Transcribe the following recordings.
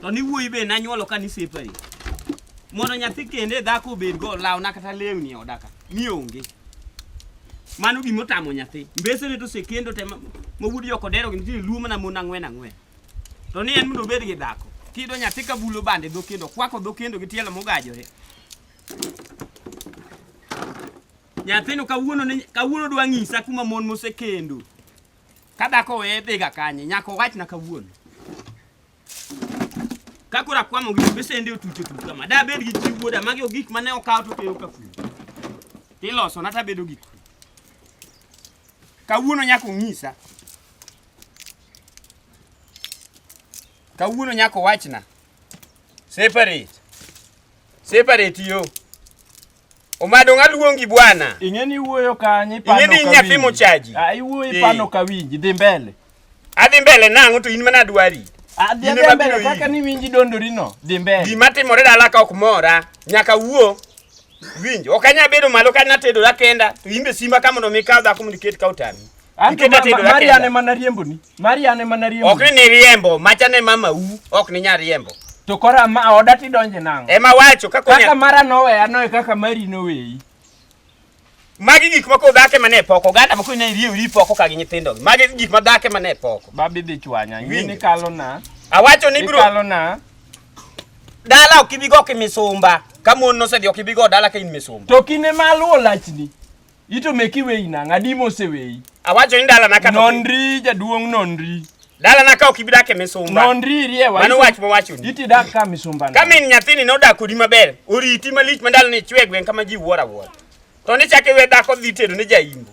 to ni wuoyi be nanyuolo ka nisepari mondo nyathi kende dhako obed go lawna kata lewni odaka mi onge mano gima otamo nyathi mbesene to osekendo te mawuod joko dero gi nitie luo mana mon ang'wen ang'wen to ni en mondo obed gi dhako kido nyathi ka bulo bande dho kendo kwako dho kendo gi tielo mogajore nyathino kawuono kawuono dwa ng'isa kuma mon mosekendo Ka dhako weye dhiga kanye nyaka owachna kawuono. Ka koro akwamo gi besende otucho tucho kama. Da bed gi chi wuoda magi ogik mane okawo to keyo kafu. Tiloso na tabedo gik. Kawuono nyaka ong'isa. Kawuono nyaka owachna. Separate. Separate yo. Omado ng'a luongi bwana? Ing'e ni iwuoyo kanye pano Ing'e ni nyathi mochaji. Ah iwuoyo pano ka winji dhi mbele. Adhi mbele nang'o to in mana dwari. Adhi ah, adhi mbele kaka ni winji dondori no dhi mbele. Gima timore dala ka ok mora nyaka wuo. Winji ok anya bedo malo ka natedora kenda to in be simba ka mondo mi kaw dhako mondo iket ka otami. Ikete tedo lakini. Marian ema nariembo ni. Marian ema nariembo. Ok ni riembo, macha ne mama u, ok ni nya riembo. To kora ma oda ti donje nango. Ema wacho kaka kaka mara nowe ano e kaka mari noweyi. Magi gik moko dhake mane poko ganda moko ne riyo ri poko ka gi nyithindo. Magi gik ma dhake mane poko. Babi dhi chwanya, ngini kalo na. Awacho ni bro. Kalo na. Dala ok ibi go kimisumba. Ka mon nosedhi ok ibi go dala ka in misumba. To kine maluwo lachni. Ito meki weyi nang' adi moseweyi? Awacho ni dala na ka nonri jaduong' nonri. Dala na ka ok ibidake misumba. Nonri riewa. Mano wach mowacho ni. Iti dak ka misumba. Ka min nyathini nodak kodi maber, oriti malich ma ndalo ni chwe gwen kama ji wuora wuora. To ni chake we dhako dhi tedo ne jaimbo.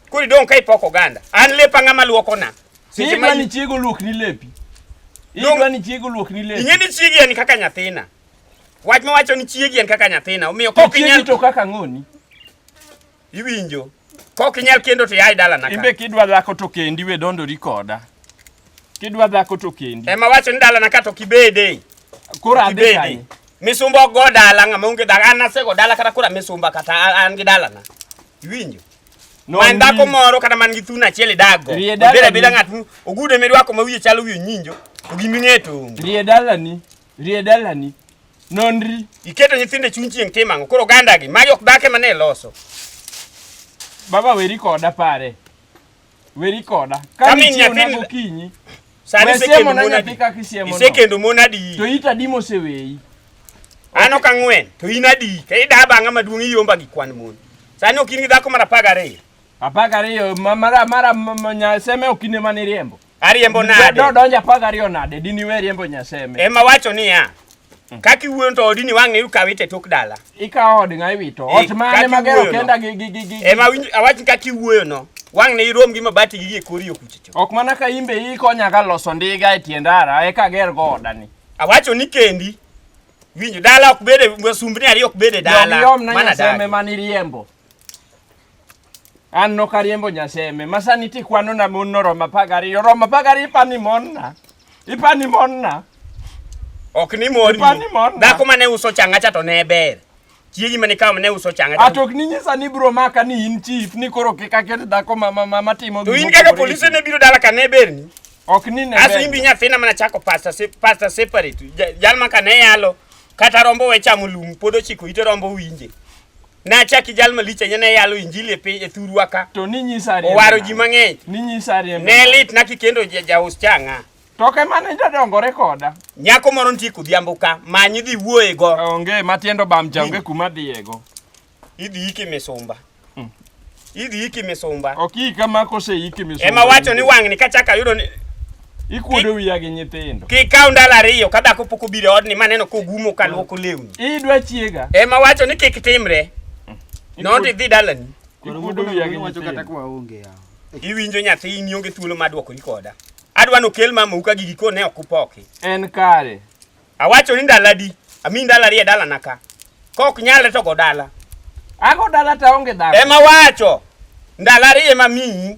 Kuri dong' ka ipoko oganda. An lepa ng'ama luoko na. Sisi mani chiego luok ni lepi. Idwa ni chiego luok ni lepi. Ing'e ni chiegi en kaka nyathina. Wach ma wacho ni chiegi en kaka nyathina, omiyo kok inyal to kaka ng'oni. Iwinjo? Kok inyal kendo to yai dala naka. Imbe kidwa dhako to kendi we dondori koda. Kidwa dhako to kendi. Ema wacho ni dala naka to kibede. Kora adhi kanye. Misumba go dala ng'ama onge dala an asego dala kata kora misumba kata an gi dala na. Iwinjo? No, man dhako moro kata man gi thuno achiel idago. Obeda beda ng'at ogude midwako ma wiye chalo wiye nyinjo. Ogiming'eto. Rie dala ni. Rie dalani. Nonri. Iketo nyithindo e chuny chieng' tim ang'o? Koro ogandagi, magi ok dhake mane loso. Baba weri koda pare. Weri koda. Ka Kami nichieo nyathi- nago kinyi. Sani We isekendo siemo na mon nyathi adi? kaka isiemo no. Isekendo mon adi? To ita di moseweyi. An ok ang'wen, to in adi? Ka ida bang'a maduong' iyomba gi kwan mon. Sani ok in gi dhako mar apar gariyo. Apar gariyo ma- mara mara ma- ma- nya- seme ok ine mane iriembo. Ariembo nade? Do donja apar gariyo nade? Dini we riembo nyaseme. Ema wacho niya. Mm. Kaki wuon to odini wang' ne ukawe te tok dala. Ikawo od ng'a iwito. Ot mane magero kenda gi gi gi gi. Ema winj awach kaki wuoyo no. Wang' ne irom gi mabati gi e kori okuchicho. Ok mana ka imbe i konya ga loso ndiga e tiendara e ka ger go odani. Awacho ni kendi. Winjo dala ok bede wasumbni ariyo ok bede dala. Yom yom na nyaseme maniriembo. An nok ariembo Nyaseme. Masani tikwano na mon noromo apar gariyo. Romo apar gariyo ipani mon na. Ipani mon na. Ok ni mon. Ipani mon na. Dhako mane uso changa cha to ne ber. Chiegi mane kawo mane uso changa. Ato ok ni nyisa ni bro maka ni in chief ni koro kik aket dhako ma ma ma timo gimoro. To in kaka polisi ne biro dala ka ne ber ni. Ok ni ne. Aso imbi nyathina mana chako pasta se pasta separate. Jal maka ne yalo kata rombo we chamo lum pod ochiko ite rombo winje. Nachaki jal malich ahinya ne yalo injili e piny e thurwa ka. To ni nyisa riembo. Owaro ji mang'eny. Ni nyisa riembo. Ne lit na kikendo jaus chang'a. To ke mane jadongore koda. Nyako moro nitie kodhiambo ka manyi dhi wuoye go. Onge matiendo bam jange kuma dhiyego. Idhi iki misumba. Idhi iki misumba. Ok ika ma kose iki misumba. Ema wacho ni wang'ni kachaka yudo ni ikuodo wiya gi nyithindo. Kikaw ndalo ariyo ka dhako pok obiro e odni maneno kogumo ka luoko lewni. Idwa chiega. Ema wacho ni kik timre. Not idhi dalani. Ikuodo wiya gi nyithindo. Iwinjo nyathi in ionge thuolo ma dwokori koda. Adwa nokel mamau ka gigi kone ok upoki. En kare. Awacho ni ndalo adi? Ami ndalo ariyo e dalana ka. Kok nyalre to go dala. Ago dala to aonge dhako. Ema wacho. Ndalo ariyo ema miyi.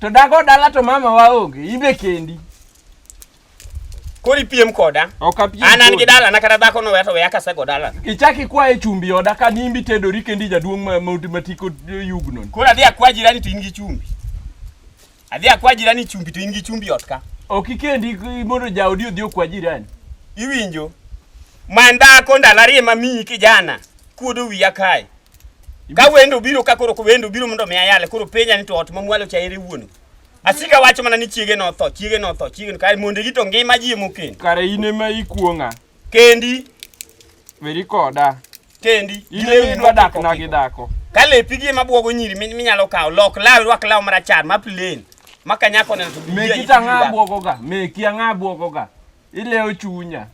To dago dala to mama waonge. Ibe kendi. Koro ipiem koda. Ok apiem. An an gi dalana kata dhako no weya to weya kasego dalana. Ichak ikwaye chumbi oda ka nimbi tedori kendi jaduong' ma- ma- matiko yugno. Koro adhi akwa jirani to in gi chumbi. Adhi akwa jirani chumbi to in gi chumbi ot ka. Ok ikendi mondo jaodi odhi okwa jirani. Iwinjo? Mandako ndalo ariyo ma miyi kijana kuodo wiya kae. Ka wendo biro ka koro wendo biro mondo mi ayale koro penya ni to ot mamwalo cha ere wuon. Asika wacho mana ni chiege no tho, chiege no tho, chiege no kare mondo gito ngima ji mokendo. Kare in ema ikuong'a. Kendi. Weri koda. Kendi. Ilewi dwa dak na gi dako. Ka lepi gi ema bwogo nyiri minyalo kawo lok law rwak law marachar ma plain. Ma kanyako neno to biye. Meki tanga bwogo ga. Meki anga bwogo ga. Ilewo chunya.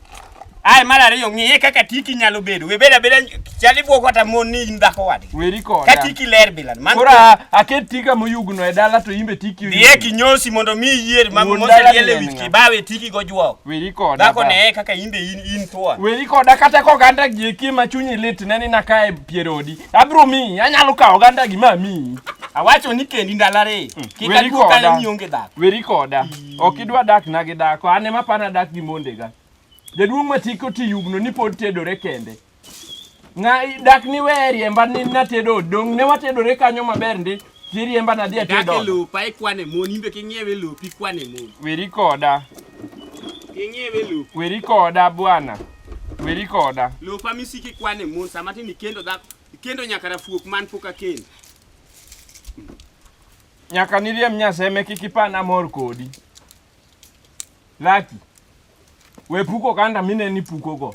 Ai mar ariyo ng'iye kaka tiki nyalo bedo. We beda beda chali bwogo kata mon ni in dhako wadi. Weri koda. Ka tiki ler bila. Man Kora aket tika moyugno e dala to imbe tiki. Diye kinyosi mondo mi yier ma moseliele wiki bawe tiki go jwok. Weri koda. Dhako ne kaka imbe in in thua. Weri koda kata ko ganda gi ki ma chunyi lit ne ni na kae pierodi. Abro mi, anyalo kawo ganda gi ma mi. Awacho ni kendi ndalare. Hmm. Kika duo kale ni onge dhako. Weri koda. Ok idwa dak na gi dhako. Ane ma pana dak gi mondega. Jaduong' matiko ti yugno ni pod tedore kende. Nga dak ni we riemba ni natedo dong ne watedore kanyo maber ndi tiriemba nadhi Dak e atedo. lowo pa ikwane mon, imbe king'iewe e lowo pikwane mon. Weri koda, King'iewe e lowo. weri koda bwana. Weri koda. Lowo pa misiki ikwane mon, sama tin ikendo dhako, ikendo nyaka rafuok man pok akendo. Nyaka niriem nyaseme kik ipan amor kodi. Laki. We puko kanda mine ni puko go.